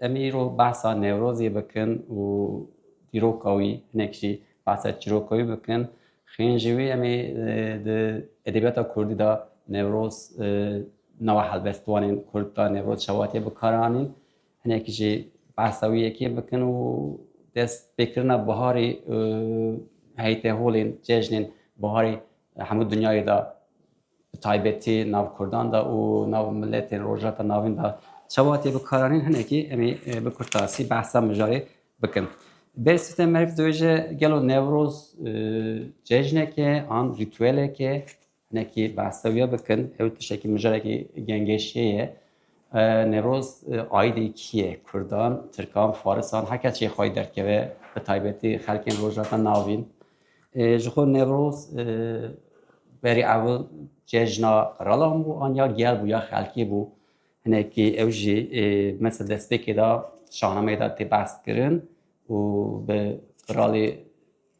Em îro behsa Newrozê bikin û dîroka wî hinek jî behsa çîroka wî bikin. Xên ji wî em ê di edebiyata Kurdî de Newroz nava helbestwanên Kurd de Newroz çawa tê bikaranîn. Hinek jî behsa wî yekê bikin û dest pêkirina biharê heyteholên cejnên biharê hemû dinyayê de bi taybetî nav kurdan de û nav miletên Rojhilata Navîn de çawa tê bikaranîn hinekî em ê bi kurtasî behsa mijarê bikin. Bê Site Merg dibêje gelo Newroz cejnek e an rîtûelek e hinekî behsa wî bikin ew tiştekî mijarekî gengêşê ye. Newroz aîdê kî ye kurdan, tirkan, farisan her kes jê xwe yê derdkeve bi taybetî xelkên Rojhilata Navîn. Ji xwe Newroz berî ewil cejna qiralan bû an ya gel bû ya xelkê bû. Hinekî ew jî mesela destpêkê de şahnameyê de tê behs kirin û bi qiralê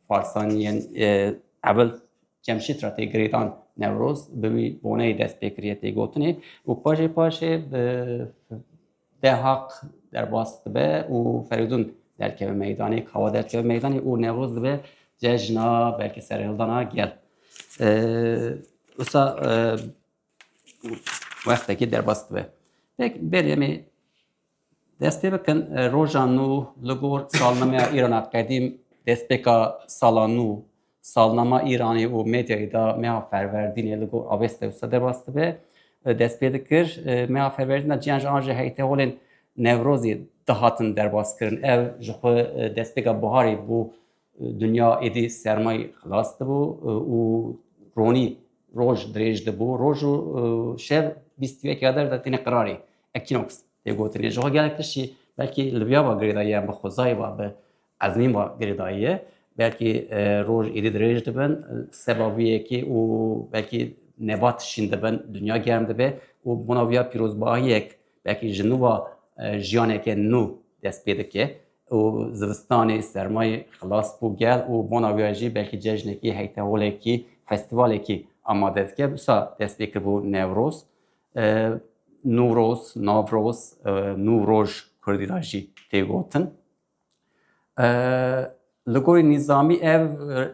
Farsan yên ewil Cemşîd re tê girêdan Newroz bi wî boneyê dest pê kiriye tê gotinê û paşê paşê bi Dehaq derbas dibe û Ferîdûn derkeve meydanê, Kawa derkeve meydanê û Newroz dibe cejna belkî serhildana gel. Wisa wextekî derbas dibe. Pek berê em ê dest pê bikin roja nû li gor salnemeya Îrana qedîm destpêka sala nû Salnama Îranê û medyayê da meha Ferwerdînê li gor Avês Tewsa derbas dibe. Dest pê dikir meha Ferwerdîn da ciyan ji an jî heytê holên Newrozê dihatin derbaskirin. Ev ji xwe destpêka biharê bû dinya êdî sermayê xilas dibû û ronî roj dirêj dibû. Roj û şev bîst û yek ya der de têne qirarê ekînoks tê gotinê. Ji xwe gelek tiştî belkî li viyava girêdayî yan bi xwezayê va bi Ez nîm va girêdayiye. Belkî e, roj êdî dirêj dibin, seba vî yekê û belkî nebat şîn dibin, dinya germ dibe û bona vîya pîrozbahiyek belkî ji nû va e, jiyaneke nû dest pê dike û zivistanê sermayê xilas bû gel û bona vîya jî belkî cejnekî, heyteholekî, festîvalekî amade dike. Wisa dest pê kiribû Newroz. E, Nûroz, Navroz, e, nû roj Kurdî ra jî tê gotin. Li gorî nîzamî ev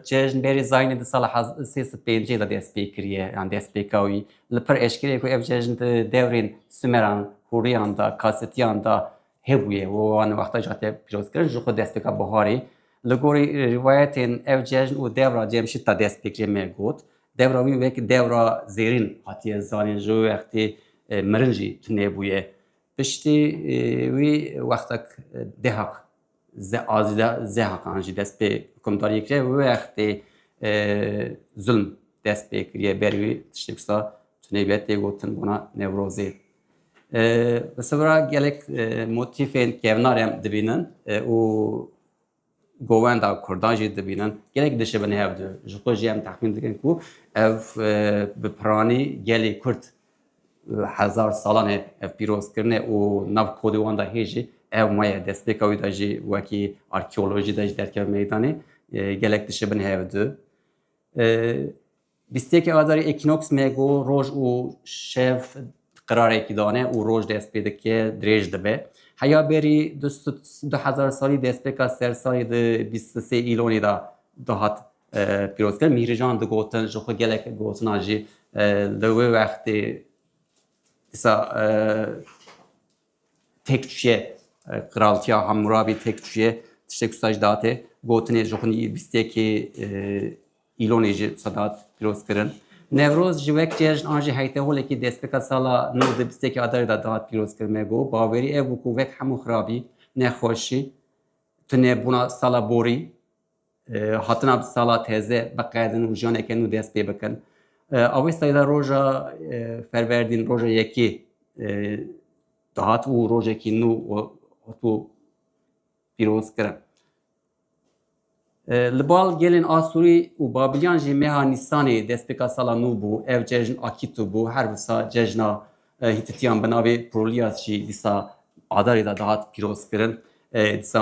cejn bêrî Zaynê di sala hezar û sê sed û pêncî de dest pê kiriye yan dest pê ka wî. Li pir eşkere ku ev cejn di devrên Sumeran, Hûriyan de, Kasitiyan de hebûye û wan wexta jî hatiye pîrozkirin jixwe dest pêka buharê. Li gorî rîwayetên ev cejn û dewra Cemşîd de dest pê kiriye me got. Dewra wî wek dewra zêrîn hatiye zanîn ji wextê mirin jî tune bûye. Piştî wî wextek Dehaq Azîza Zehaq an jî dest pê hukimdariyê kiriye û wextê zulm dest pê kiriye ber wî tiştê wisa tunê be tê gotin bona Newrozê. Li Sibira gelek motîfên kevnar em dibînin û Govenda Kurdan jî dibînin gelek dişibin hev di. Ji xwe jî em texmîn dikin ku ev bi piranî gelê Kurd hezar salan e ev pîroz kirine û nav kodê wan da hê jî ew maye destpêka wî da jî wekî arkeolojî de jî derkeve meydanê gelek dişibin hev di. Bîst û yek Adarê Equinox me got roj û şev qirarekî dane û roj dest pê dike dirêj dibe. Heya berî du hezar salî destpêka sersalê di bîst û sê Îlonê de dihat pîrozkirin. Mîhrijan digotin ji xwe gelek gotinan jî li wê wextê dîsa Têkçûyê Qiraltiya Hamûrabî têkçûyê tiştê ku saj date, gotinê ji xwinî bîst yekê Îlonê jî wisa dat pîroz kirin. Newroz ji wek cejn an jî heyte holekî destpêka sala nû di bîst yekê Adarê de dihat pîroz kirin. Me got bawerî ev bû ku wek hemû xirabî, nexweşî, tunebûna sala borî, Hatina di sala teze biqedin û janeke nû dest pê bikin. Awê seyda roja ferverdîn roja yekê dihat û rojekî nû hatû pîrozkirin. Li bal gelên Asûrî û Babîliyan jî meha Nîsanê destpêka sala nû bû. Ev cejn akîtu bû her wisa cejna Hîtitiyan bi navê Prolias jî dîsa adarê de dihat pîrozkirin. Dîsa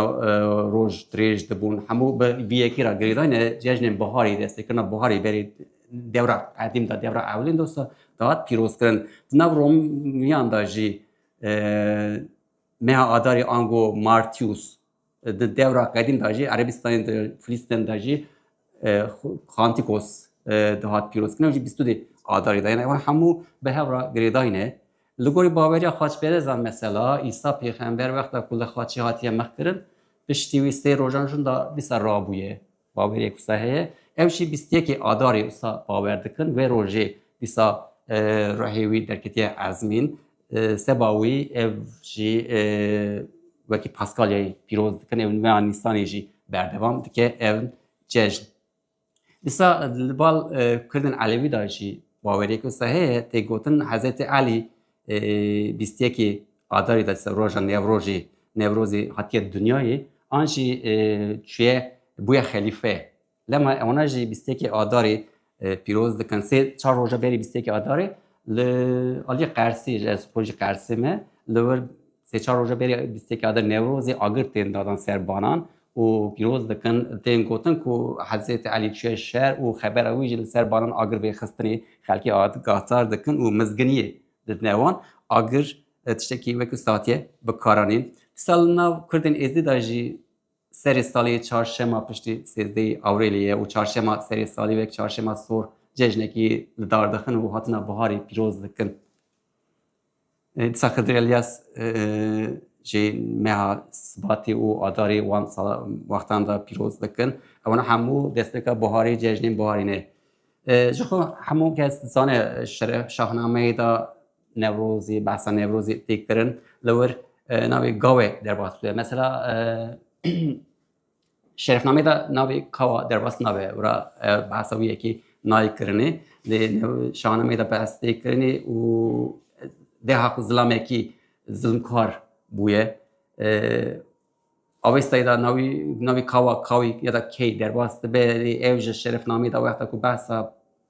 roj dirêj dibûn. Hemû bi yekê re girêdayne cejnên biharê destekirina biharê berê dewra qedîm de dewra ewlên dosa dihat pîrozkirin. Di nav Romiyan de jî meha adarê ango Martius Di dewra qedîm de jî Erebîstanê de Filîsten de jî Xantikos dihat pîrozkirin ew jî bîst û dê adarê de. Yani ewan hemû bi hev re girêdayîne. Li gorî baweriya xaçperezan mesela Îsa pêxember wexta ku li xaçê hatiye mexkirin piştî wî sê rojan jin da dîsa rabûye. Bawerê ku se heye ew jî bîst yekê Adarê wisa bawer dikin wê rojê dîsa rehê wî derketiye ezmîn seba wî ev jî wekî Paskalyayê pîroz dikin ew nûya Nîsanê jî berdewam dike ev cejn. Dîsa li bal Kurdên Elewî da jî bawerê ku se heye tê gotin Hezretê Elî bîst yekê Adarê de ser roja Newrojê Newrozê hatiye dinyayê an jî çûye bûye xelîfe. Lema wana jî bîst yekê Adarê pîroz dikin. Sê çar roja berî bîst yekê Adarê li aliyê Qersê ji ez xwe jî Qersê me li wir sê çar roja berî bîst yekê Adarê Newrozê agir tên dadan ser banan û pîroz dikin. Tên gotin ku Hezretê Elî çûye şer û xebera wî jî li ser banan agir vê xistinê xelkê agahdar dikin û mizginiyê didine wan. Agir tiştekî wekî satiye bi kar anîn. Dîsa li nav kurdên êzdî de jî serê salî çarşema piştî sêzdeyê Awrêlê ye û çarşema serê salî wek çarşema sor cejnekî li dar dixin û hatina biharê pîroz dikin. Disa Xizir Elyas jî meha Sibatî û Adarî wan wextan de pîroz dikin. Ewan hemû destpêka buharî cejnên buharî ne. Ji xwe hemû kes dizane şeref şahnameyê de Newrozî, behsa Newrozî tê kirin li wir navê gawê derbas bike. Mesela Şerefnameyê de navê Kawa derbas nabe û re behsa wî yekê nayê kirinê. Lê şahanameyê de behs tê kirinê û deha xwe zilamekî zilmkar bûye. Avêstayê de navî navê Kawa Kawî ya da Key derbas dibe. Lê ew ji şerefnameyê de wexta ku behsa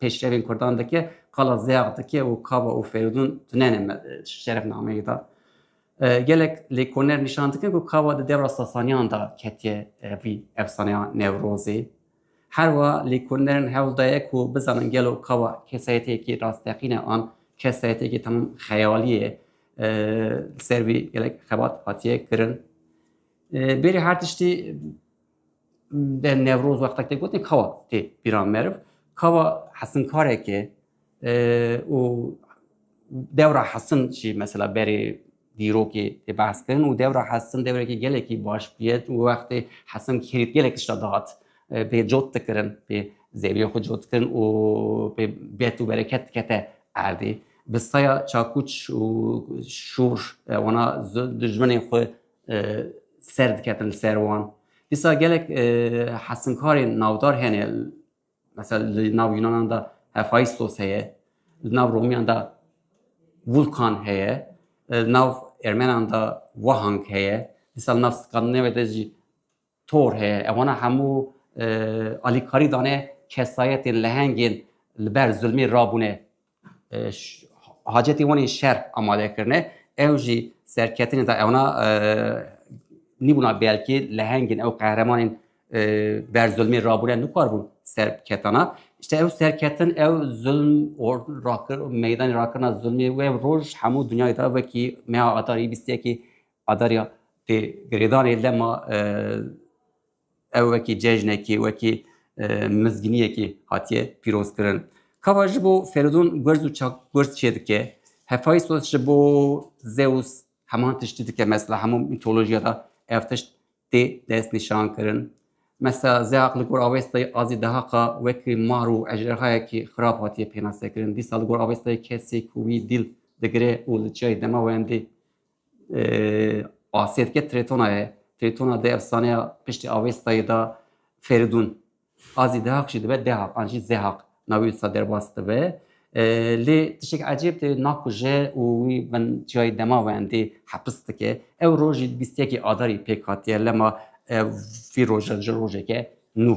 pêşrevên Kurdan dike qala Zeyax dike û Kawa û Ferûdûn tune ne şerefnameyê de. Gelek lêkoner nîşan dikin ku kava di dewra Sasaniyan de ketiye vî efsaneya Newrozê. Her wiha lêkonerin hewl daye ku bizanin gelo kava kesayetiyekî rasteqîn e an kesayetiyekî temam xeyalî ye li ser vî gelek xebat hatiye kirin. Bêrî her tiştî Deh Newroz wextek tê gotin kawa tê pîran meriv, kawa hesinkareke û dewra hesin jî mesela berê dîrokê tê behs kirin û dewra hesin dewrekî gelekî baş bûye û wextê hesin kêrît gelek tişta dihat pê cot dikirin pê zeviyê xwe cot dikirin û pê bet û bereket dikete erdê. Bi saya çakûç û şûr wana dijminên xwe ser diketin li ser wan. Dîsa gelek hesinkarên navdar hene mesela li nav Yunanan de Hephaistos heye, li nav Romiyan de Vulkan heye, li nav Ermenan de Wahang heye, dîsa li nav Skandinavya de jî Tor heye, ev wana hemû alîkarî dane kesayetên lehengên li ber zulmê rabûne hacetê wan ên şer amade kirine, ew jî serketinê da ew na nîbûna belkê lehengên ew qehremanên ber zulmê rabûne nikaribûn serketana. İşte ew serketin ew zulm or rakir meydanê rakirina zulmê wê roj hemû dinyayê da wekî meha atarî bîstiyekî Adarya tê girêdanê lema ew wekî cejnekî, wekî mizginiyekî hatiye pîrozkirin. Kava ji bo Feridun gurz û çakgurz çê dike, Hefaysos ji bo Zeus heman tiştî dike mesela hemû mîtolojiya de ev tişt tê destnîşan kirin. Mesela Zeaq li gor Awestayê Azî Dehaqa wekî mar û ejderhayekî xirab hatiye pênasekirin. Dîsa li gor Awestayê kesê ku wî dîl digire û li çiyayê dema wendê Asiyetke Tretona ye. Tretona de efsaneya piştî Avestayê de Feridun. A zî Dehaq jî dibe Dehaq an jî Zehaq navê wisa derbas dibe. Lê tiştek ecêb de nakuje û wî bin çiyayê dema wendê hepis dike. Ew rojî bîst yekê Adarî pêk hatiye lema vî roje ji rojeke nû.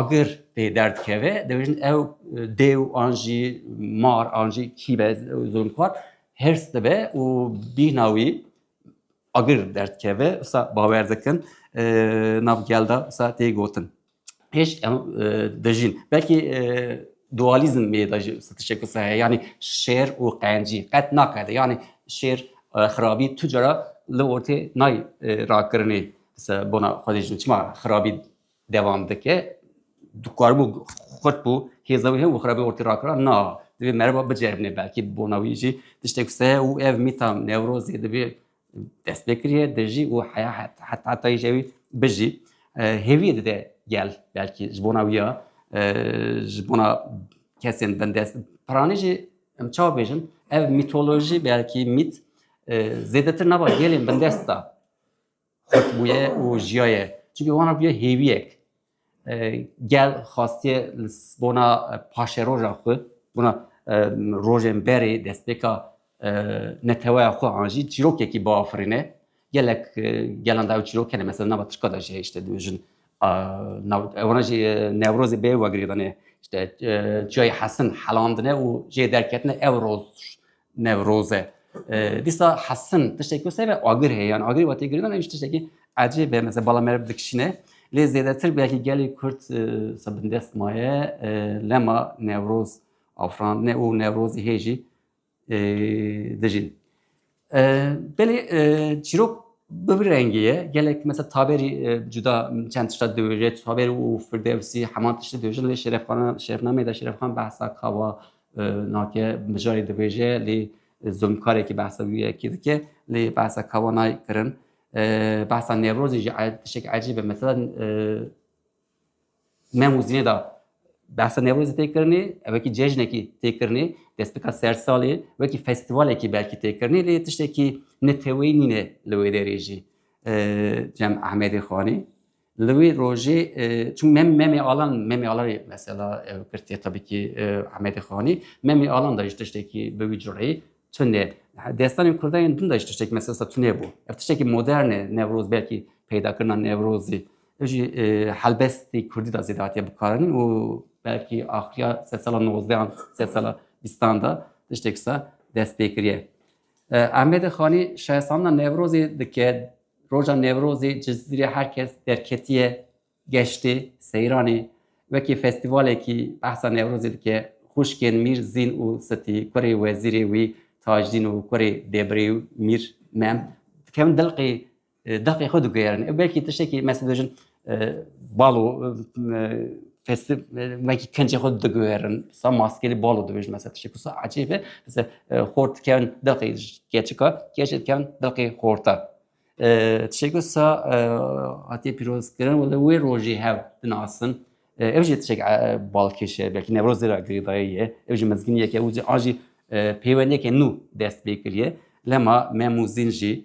agir pê derdikeve dibêjin ew dêw an jî mar an jî kî be zulmxwar hêrs dibe û bîhna wî agir derdikeve sa bawer dikin nav gelda sa tê gotin hêj em dijîn belkî dualizm mêda jî tişek sa heye yanî şêr û qencî qet nakede yanî şêr xirabî tu cara li ortê nay rakirinê Bi se bona Xwedê jin çima xirabî devam dike? Dikaribû xurt bû hêza wî heye û xirabî ortê rakira. Na, divê merivak biceribîne belkî bi bona wî jî tiştek wisa heye û ev mîta newrozê divê destpêkirîye, dijî û heya heta hetayî jî ew ê bijî. Hêviyê dide gel belkî ji bona wî ya ji bona kesên bindest. Piranî jî em çawa bêjin ev mîtolojî belkî mît zêdetir nava gelên bindest da. xurt bûye û jiyaye. Çunkî wan re bûye hêviyek. Gel xastiye li bona paşeroja xwe, bona rojên berê destpêka neteweya xwe an jî çîrokekî biafirîne. Gelek gelan da ew çîrok hene mesela nava tirka de jî işte du jin wana jî Newrozê bê wegirîdane işte çiyayê hesin helandine û jê derketine ew roz Newroz e. Dîsa hesin tiştekî ku sebe agir heye yan agirê watê girînan hêj tiştekî ecê be mesela bala meriv dikişîne. Lê zêdetir belkî gelê Kurd se bindest maye lema Newroz afirandine û Newrozî hêjî dijîn. Belê çîrok bi vî rengî ye gelek mesela taberî cuda çend tişta diwêje taber û firdevsî heman tiştî diwêjin lê şerefxanan şerefnameyê de şerefxan behsa kava Nake mijarê dibêje lê zulmkarekî behsa wî yekî dike lê behsa kawa nayê kirin. Behsa Newrozê jî tişek ecîb e mesela me muzînê da behsa Newrozê tê kirinê wekî cejnekî tê kirinê destpêka sersalê wekî festîvalekî belkî tê kirinê lê tiştekî neteweyî nîne li wê derê jî. Cem Ehmedê Xanî Li wê rojê çun mem memê alan memê alan mesela kirtiye tabi ki Ahmedê Xanî memê alan da ji tiştekî bi wî cureyî tunê destanên Kurdayên din da ji tiştekî mesela tunê bû. Ev tiştekî modern e Newroz belkî peydakirina Newrozî. Ev jî helbestî Kurdî da zêde hatiye bikaranîn û belkî axiriya sed sala nozdeyan sed sala bîstan da tiştekî sa dest pê kiriye. Ehmedê Xanî şayestrandina Newrozê dike, Roja Newrozê ji zîrê her kes derketiye geştê Seyranê. Wekî festîvalekî behsa Newrozê dike. Xwişkên Mîr Zîn û Sitî, kurê wezîrê wî Tajdîn û kurê Debrê û Mîr Mem dikevin dilqê Deqê xwe diguherin. Ew belkî tiştekî mes dibêjin bal û festi belkî kencê xwe diguherin. Sa maskelî bal û dibêjin mes tiştekî sa ecêbe mesela xor dikevin deqê keçika, keçê dikevin deqê xorta. Tiştekî sa hatiye pîrozkirin wele wê rojê hev dinasin. Ev jî tişek balkêşe belkî Newrozê ra girêdayî ye. Ew jî mezginiyeke û an jî pêwendiyeke nû dest pê kiriye. Lema me Mûzîn jî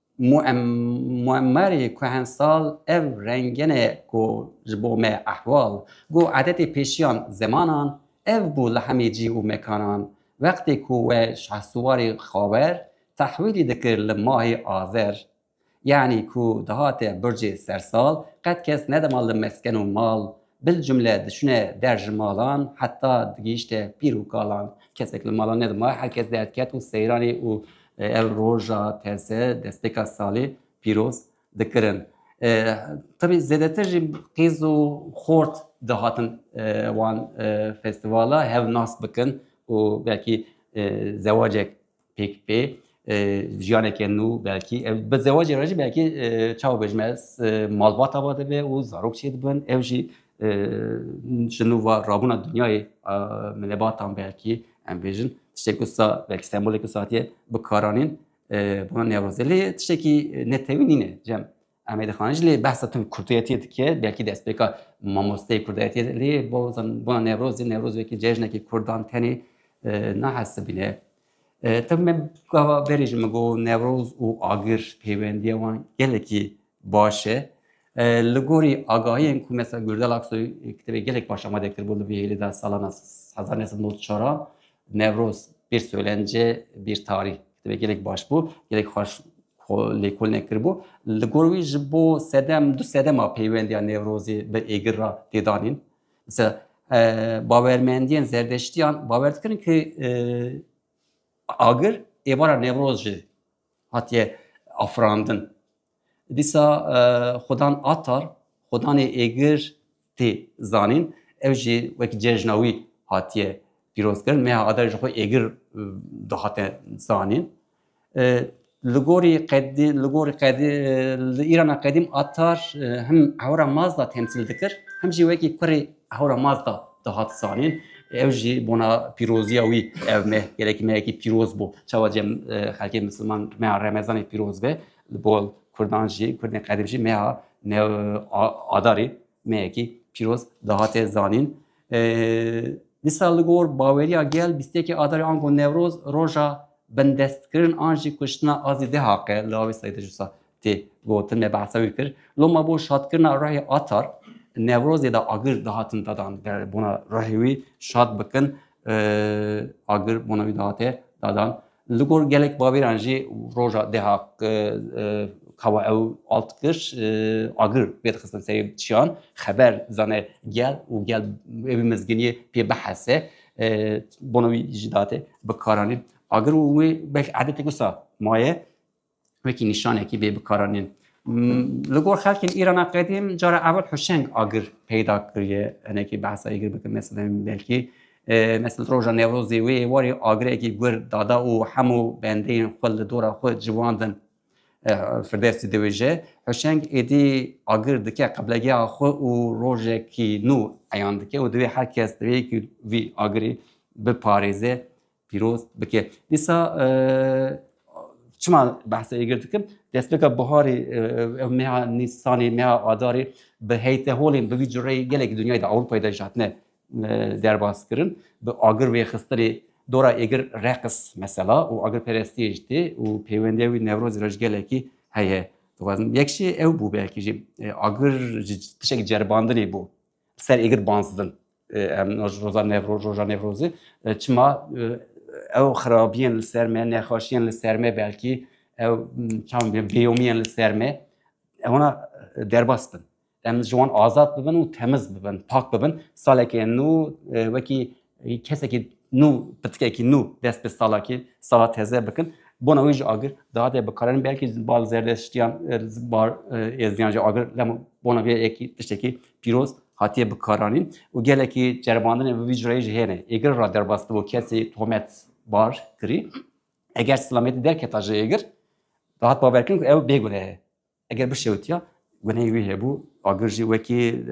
Muammarê kuhensal ev rengene ku ji bo me ehwal, gu edetê pêşiyan zemanan ev bû li hemî cîh û mekanan. Wextê ku we Şehsuwarê Xawer tehwîlî dikir li mahê Azer, yanî ku dihate Burcê Sersal qet kes nedema li mesken û mal Bilcumle diçûne der ji malan heta digihîşte pîr û kalan. Kesek li malan nedimaye, her kes derdiket û seyranê û ev roja teze destpêka salê pîroz dikirin. Tevî zêdetir jî qîz û xort dihatin wan festîvala hev nas bikin û belkî zewacek Pêk pê jiyaneke nû belkî ev bi zewacê re jî belkî çawa bêjim ez malbata va dibe û zarok çê dibin ev jî ji nû va rabûna dinyayê milebatan belkî em bêjin tiştê ku sa belkî sembolê ku satiye bikaranîn bona newrozelê tiştekî netewî nîne cem Em ê dixanî jî lê behsa tim kurdiyetiyê dike, belkî destpêka mamosteyê kurdiyetiyê lê bona Newrozê, Newroz wekî cejnekî kurdan tenê nahesibîne. Tim me gava berê jî min got Newroz û agir pêwendiya wan gelekî baş e. Li gorî agahiyên ku mesela Gürdal Aksoy kitêbê gelek baş amade kiribû li vê hêlê de salana hezar neh sed nod çara Newroz bir söylence bir tarih kitêbê gelek baş bû, gelek xweş Xwe lêkolîne kiribû. Li gor wî ji bo sedem du sedema peywendiya Newrozê bi Êgir re tê danîn. Mesela bawermendiyên zerdeştiyan bawer dikirin ki agir êvara Newroz jî hatiye afirandin. Dîsa xudan Atar, xudanê Êgir tê zanîn. Ev jî wek cejna wî hatiye pîrozkirin. Meha Adarê ji xwe êgir dihate zanîn. Li gorî qedî li gorî qedî li Îrana qedîm Atar him hewra Mazda temsîl dikir him jî wekî kurê hewra Mazda dihat zanîn. Ew jî bona pîroziya wî ev me gelekî me yekî pîroz bû. Çawa cem xelkê misilman me Remezanê pîroz be. Li bo kurdan jî, kurdên qedîm jî meha new adarê meyekî pîroz dihate zanîn. Dîsa li gor baweriya gel bîst yekê adarê ango newroz roja bindestkirin an jî kuştina azî dê haqe li awê seyde jûsa tê gotin me behsa wî kir. Loma bo şadkirina ruhê atar newrozê de agir dihatin dadan bona ruhê wî şad bikin Agir bona wî dihate dadan. Li gor gelek bavêran jî roja deha kawa ew alt kir agir pêdixistin serê çiyan xeber zane gel û gel wê mizginiyê pê bihese bona wî jî date bi karanî agir û wê belkî edetek wisa maye wekî nîşanekî vê bikaranîn. Li gor xelkên Îrana qedîm cara ewil huşeng agir peyda kiriye hinekî behsa êgir bikin mesela belkî mesela roja Newrozê wê warê agirekî gur dada û hemû bendeyên xwe li dora xwe civandin firdevsî diwêje huşeng êdî agir dike qiblegeha xwe û rojekî nû eyan dike û divê her kes divê ku vî agirê biparêze Pîroz bike. Dîsa çima behsa êgir dikim destpêka buharê ew meha nîsanê meha adarê bi heyte holên bi vî cureyê gelekî dinyayê de Ewropayê de ji hatine derbas kirin bi agir wêxistinê dora êgir reqis mesela û agirperestiyê ji tê û pêwendiya wî newrozê re ji gelekî heye. Dixwazim yek jî ew bû belkî jî agir ji tişek ceribandinê bû Ser êgir banzdin em roza nevroj roja nevrozê çima ew xirabiyên li ser me nexweşiyên li ser me belkî ew çawn bêyomiyên li ser me ewna derbas bin em ji wan azad bibin û temiz bibin pak bibin salekê nû wekî Kesekî nû pitikekî nû dest bi salakî sala teze bikin. Bona wî jî agir dihate bikarin belkî bal zerdeştiyan bar êzdiyan jî agir lem bona vê yekî tiştekî pîroz hatiye bikaranîn û gelekî ceribandinê bi vî cureyê jî hêne. Êgir ra derbas dibo kesê tohmet bar kirî. Eger silamiyetî derketa ji êgir dihat bawerkirin ku ew bêguneh e. Eger bişewitiya guneyê wî hebû agir jî wekî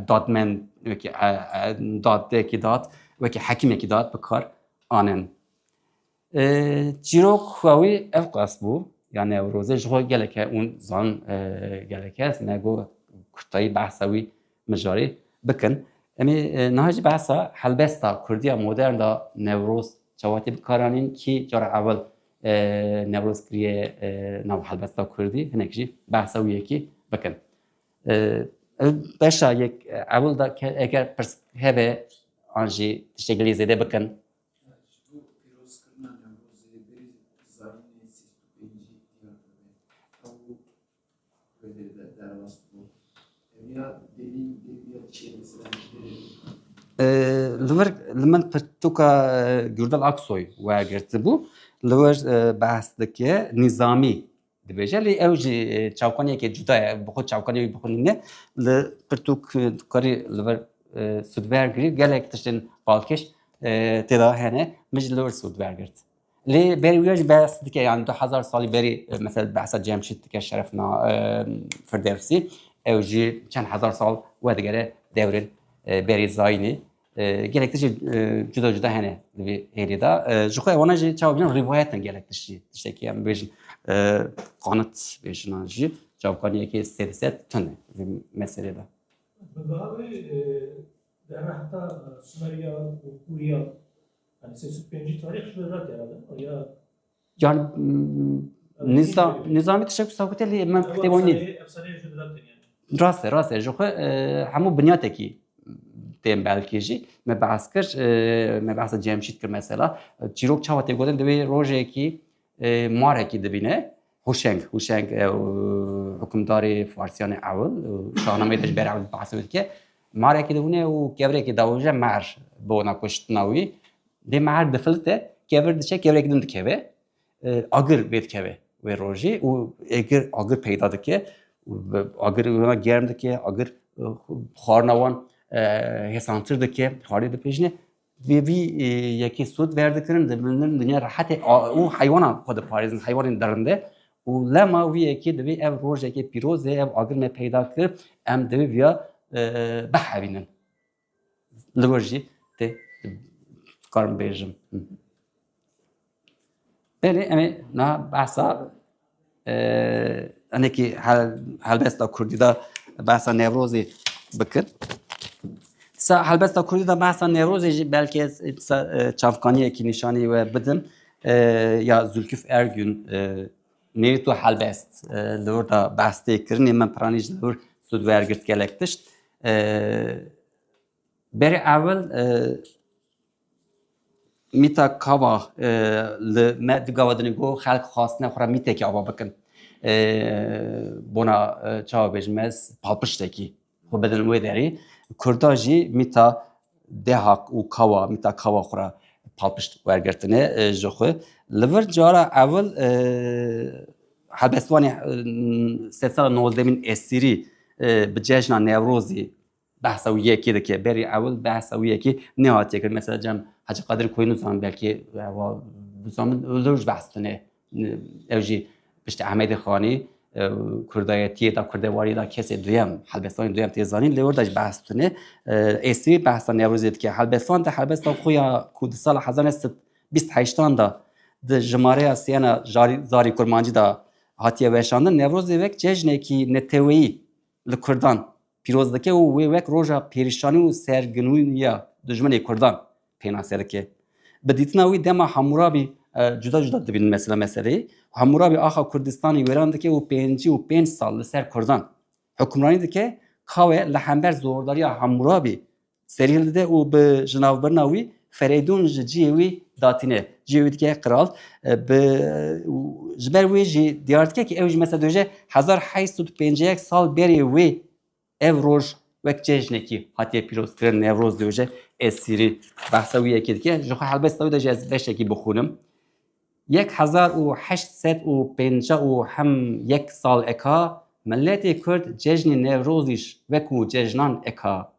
dadmen wekî dadeyekî dad wekî hekîmekî dad bi kar anin. Çîrok xwe wî ev qas bû yani ew rozê ji xwe geleke ûn zan geleke ez me got kurtayî behsa wî mijarî bikin. Emî niha jî behsa helbesta Kurdiya modern da Newroz çawatî bikaranîn kî cara ewil Newroz kiriye nav helbesta Kurdî hinek jî behsa wî yekî bikin. Beşa yek ewil da eger pirs hebe an jî tiştekilî zêde bikin. Li wir li min pirtûka Gurdal Aksoy wergirtibû. Li wir behs dike nîzamî dibêje lê ew jî çavkaniyeke cuda ye. Bi xwe çavkaniyê wî bixwîne. Li pirtûk dikarî li vir sûd wergirî gelek tiştên balkêş têda hene. Min jî li wir sûd wergirt. Lê berî wî ya jî behs dike yan du hezar salî berî mesela behsa Cemşîd dike şerefna Firdevsî ew jî çend hezar sal wedigere dewrên berî zayînî gelek tişî cuda cuda hene di vî hêlî da ji xwe wana jî çawa bînin rîvayetin gelek tişî tiştekî em bêjin qanit bêjinan jî çavkanî yekê sê di sed tune vî meselê da Bi vî alî derehta Sumeriyan û Kûriyan Yani nizam nizamê teşekkür sakute lê me kutê wan nîn. Rast e rast e ji xwe hemû binyatekî tên belkê jî me behs kir me behsa cemşît kir mesela çîrok çawa tê gotin divê rojekî marekî dibîne Huşeng, Huşeng e, hukmdarê Farsiyane ew, şahnameyê de ji ber ew bahs dike. Marekî de hûne û kevrekî dawije mer bi ona kuştina wî. Dê mer difilite, kevir diçe, kevrekî din dikeve. Agir bê dikeve wê rojê û egir agir peyda dike. Agir wina germ dike, agir xwarina wan hêsantir dike, xwarê dipejine. Divê vî yekê sûd verdikirin, diminin dinya rehetê û heywanan xwe diparêzin, heywanên derinde û lema wî yekê divê ev rojekê pîroz e, ev agir me peyda kir, em divê viya bihevînin. Li wir jî tê dikarim bêjim. Belê em ê niha behsa hinekî helbesta Kurdî de behsa Newrozê bikin. Sa helbesta Kurdî de behsa Newrozê jî belkê ez çavkaniyekî nîşanî we bidim ya Zülküf Ergün nêrî tu helbest li wir de behs tê kirinê min piranî ji li wir sud wergirt gelek tişt. Berê ewil Mîta kava li me di gava dinê ku xelk xwastine xwe re mîtekî ava bikin. Bona çawa bêjim ez palpiştekî xwe bidin wê derî. Kurda jî mîta deha û kava mîta kava xwe re palpişt wergirtine ji xwe. Li vir cara ewil helbestvanê sedsala nozdemîn Esîrî bi cejna Newrozî Behsa wî yekê dike. Berî ewil behsa wî yekê nehatiye kirin. Mesela cem Hacî Qadir Koyî nizan belkî wa bizan min lewj behs tune. Ew jî piştî Ehmedê Xanî kurdayetiyê da kurdewarî da kesê duyem helbestanê duyem tê zanîn lê orda jî behs tune. Êsî behsa Newrozê dike. Helbestan de helbesta xwe ya ku di sala hezar neh sed bîst heştan da di jimareya siyana zarî kurmancî da hatiye weşandin Newrozê wek cejnekî neteweyî li kurdan pîroz dike û wê wek roja pêrişanî û serginûniya dijminê kurdan pênase dike. Bi dîtina wî dema Hamûrabî cuda cuda dibînin mesela meseleyê. Hamûrabî axa Kurdistanê wêran dike û pêncî û pênc sal li ser kurdan hukmranî dike. Kawe li hember zordariya Hamûrabî Serîn dide û bi ji navbirina wî Ferêdûn ji ciyê wî datîne. Ciyê wî dike qiral. Bi ji ber wê jî diyar dike ki ew ji mesela doje hezar heşt sed û pêncî yek sal berê wê ev roj wek cejnekî hatiye pîrozkirin Newroz doje Esîrî behsa wî yekê dike. Ji xwe helbest ew de jî ez beşekî bixwînim. Yek hezar û heşt sed û pênca û hem yek sal eka miletê kurd cejnê Newrozîş wekû cejnan eka.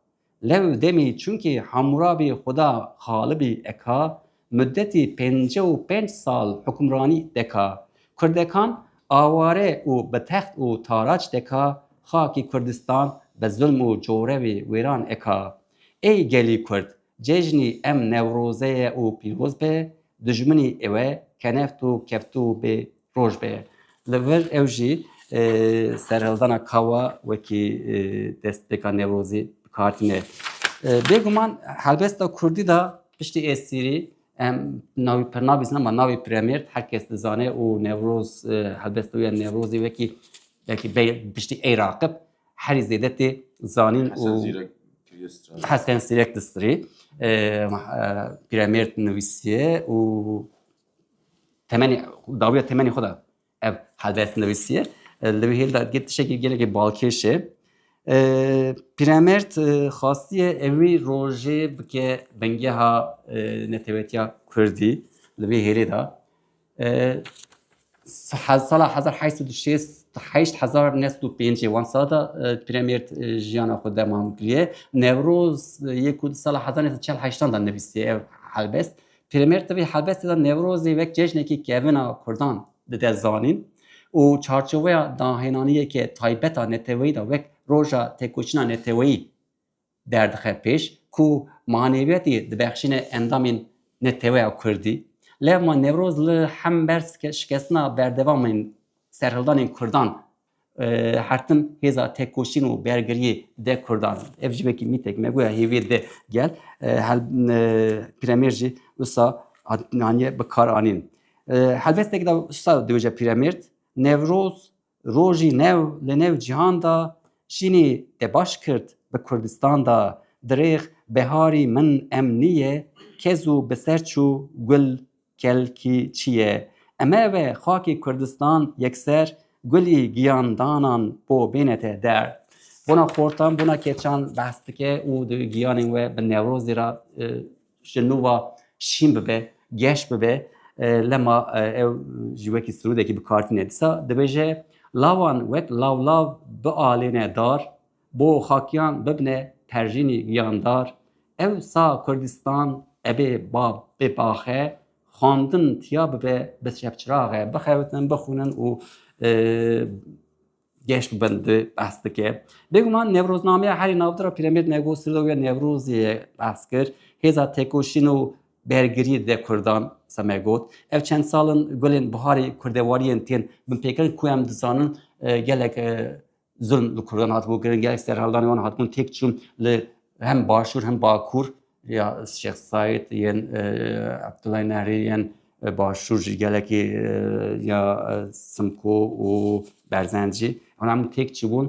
Lew demî çunkî Hamûrabî Xuda Xalibî eka, mudetî pênce û pênc sal hukmranî deka. Kurdekan aware û bi text û taraç deka, xakî Kurdistan bi zulm û corevê wêran eka. Ey gelî kurd, Cejnî em Newroze ye û pîroz be, dijminî ew e keneft û keftû û bê roj be. Li vir ew jî serhildana kawa wekî destpêka Newrozî bi kar tîne. Bêguman helbesta Kurdî de piştî Êsîrî em navî pir nabîsin ama navî Piremêrd her kes dizane û Newroz helbesta wî ya Newrozî wekî wekî bê piştî ey raqib Herî zêde tê zanîn û Hesen Zîrek Distrî pîremêrd nivîsiye û temenê dawiya temenê xwe da ev helbest nivîsiye li wî hêl da dikê tişekî gelekî balkêşe pîremêrd xastiye ev wî rojê bike bingeha netewetiya kurdî li wî hêlê da Sala hezar heşt sed û şêst heşt hezar neh sed û pêncê wan sala de Premêr jiyana xwe demam kiriye. Newroz yê ku di sala hezar neh sed çel heştan de nivîsiye ev helbest. Premêr di vê helbestê de Newrozê wek cejnekî kevina Kurdan dide zanîn û çarçoveya dahênaniyeke taybet a neteweyî de wek roja têkoşîna neteweyî Derdixe pêş ku maneviyetî dibexşîne endamên neteweya kurdî. Levma Newroz li hember şikestina berdevam ên serhildanên kurdan hertim hêza tekoşîn û bergiriyê de kurdan in. Ev jî wekî mîtek me guya hêviyê di gel Pîremêrd jî wisa hatiye bikaranîn. Helbesteke de wisa dibêje Pîremêrd, Newroz Rojî new li nêv cîhan de şînî te baş kirt bi Kurdistan de dirêx beharî min em nîyê kez û bi ser çû gul kelkî çîyê eme ve xakî Kurdistan yekser gulî giyan danan bo bênete der bona xortan bona keçan behs dike û di giyanên we bi Newrozî re Ji nû va şîn bibe, geş bibe, lema ew ji wekî sirûdekî bi kar tîne. Dîsa dibêje lawan wek lawlav bialêne dar, bo xakiyan bibne perjînî giyandar. Ew sa Kurdistan ebê ba bê baxe, xwandin tiya bibe bi şevçiraxe, bixewitin, bixwînin û Geş bi bin di behs dike. Bêguman Newroznameya herî navdir a Pîremêd Nego Silo ya Newrozê ye behs kir. Hêza têkoşîn û bergiriyê dide Kurdan seme got. Ev çend sal in gulên biharê kurdewariyên tên binpêkirin ku em dizanin e, gelek e, zulm li Kurdan hatibû kirin, gelek serhildanê wan hatibûn têk çûn li hem başûr hem bakûr ya Şêx Saîd yên Abdullah Nehrî yên Başûr jî gelekî ya Simko û Berzencî hûn hemû têk çibûn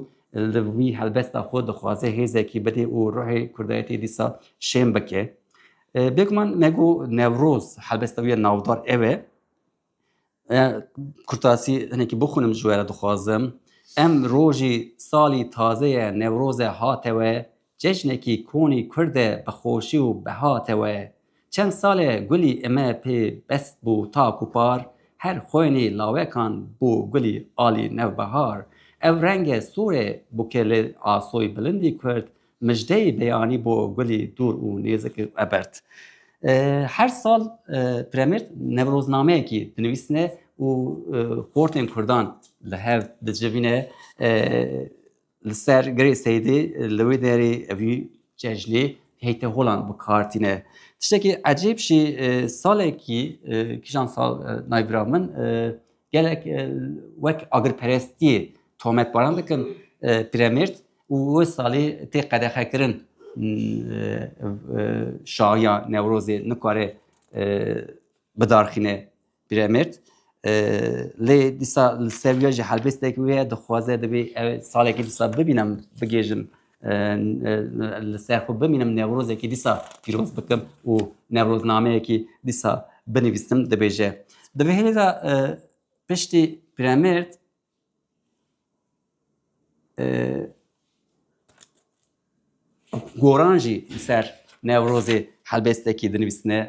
li wî helbesta xwe dixwaze hêzekî bidê û ruhê Kurdayetê dîsa şên bike. Bêguman me got Newroz helbesta wî ya navdar ew e. Kurtasî hinekî bixûnim ji we re dixwazim. Em rojî salî tazeye Newroze hate we, cejnekî konî Kurd e bi xweşî û behate we. Çend sal e gulî ime pê best bû tak û par, her xwenî lawekan bû gulî alî newbehar. Ew renge sor e bûke li asoyî bilindî Kurd Mijdeyê beyanî bo gulê dûr û nêzik û ebert. Her sal Piremîr newroznameyekî dinivîsine û xortên kurdan li hev dicivîne. Li ser girê Seydê li wê derê vî cejnê heyteholan bi kar tîne. Tiştekî ecêb jî salekî kîjan sal nayvira min gelek wek agirperestiyê tometbaran dikin Piremîr û wê salî tê qedexekirin şahiya Newrozê nikare bidarxîne Pîremêrd lê dîsa li ser wî ya jî helbêstekî wê ye dixwaze divê ev salekî dîsa bibînim bigihêjim li ser xwe bimînim Newrozekî dîsa pîroz bikim û Newroznameyekî dîsa binivîsim dibêje. Di vê hêlê de piştî Pîremêrd Goran jî li ser Newrozê helbestekî dinivîsine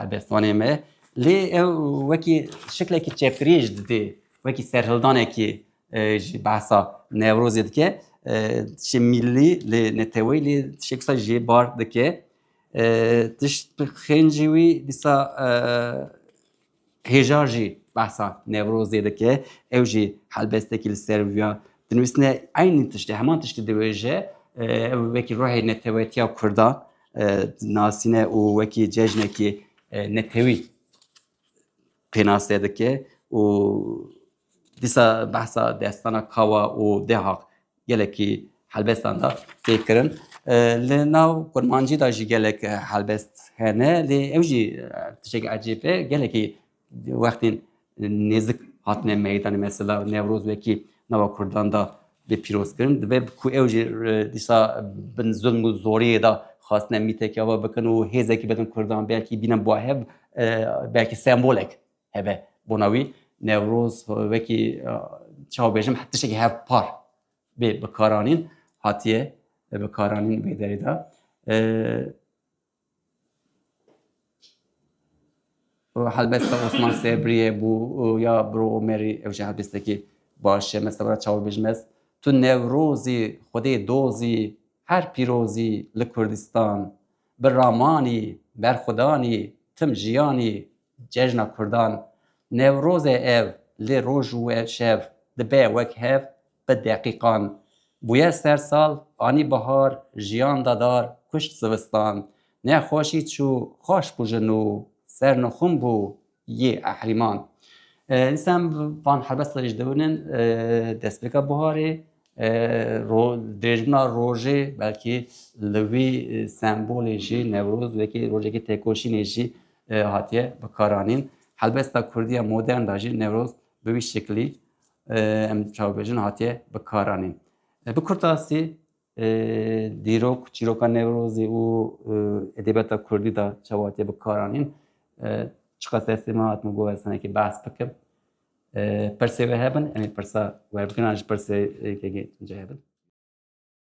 helbestvanê me. Lê ew wekî şiklekî çepiriyê jî didê, wekî serhildanekî jî behsa Newrozê dike. Tişê mîllî lê neteweyî lê tişek wisa jê bar dike. Tişt bi xêncî wî dîsa Hêjar jî behsa Newrozê dike, ew jî helbestekî li ser viya dinivîsine eynî tiştê, heman tiştê diwêje, ew wekî ruhê netewetiya Kurda dinasîne û wekî cejnekî netewî pênase dike û Dîsa behsa destana kawa û deha gelekî helbestan da tê kirin. Li nav kurmancî da jî gelek helbest hene lê ew jî tişek ecêb e gelekî wextên nêzik hatine meydanê mesela Newroz wekî nava Kurdan da bê pîrozkirin dibe ku ew jî dîsa bin zulm û zoriyê da xwastine mîtekê ava bikin û hêzekî bidin Kurdan belkî bînin bahev belkî sembolek Hebe bona wî Newroz wekî çaw bêjim tiştekî hevpar bê bikaranîn hatiye bikaranîn bê derê de. Helbet Osman Sebriye bû ya bro Omerî ew jî helbestekî baş e mesela çaw bêjim ez tu Newrozî xwedê dozî her pîrozî li Kurdistan bi ramanî berxwedanî tim jiyanî Cejna Kurdan Newroz e ev lê roj û ev şev dibe wek hev bi deqîqan. Bûye ser sal, anî bihar, jiyan da dar, kuşt zivistan. Nexweşî çû, xweş bû ji nû, ser nixûm bû yê ehrîman. Însem van helbestê jî dewin in destpêka biharê. Dirêjbûna rojê belkî li wî sembolê jî Newroz wekî rojekî têkoşînê jî hatiye bikaranîn. Helbesta Kurdiya modern da jî Newroz bi wî şeklî em çavbêjin hatiye bikaranîn. Bi kurtasî dîrok çîroka Newrozî û edebiyata Kurdî da çawa hatiye bikaranîn. Çiqas destê min hat min got ez tenekî behs bikim. Pirsê wê hebin, em ê pirsa werbikirina ji pirsê yekê yekê tunce hebin.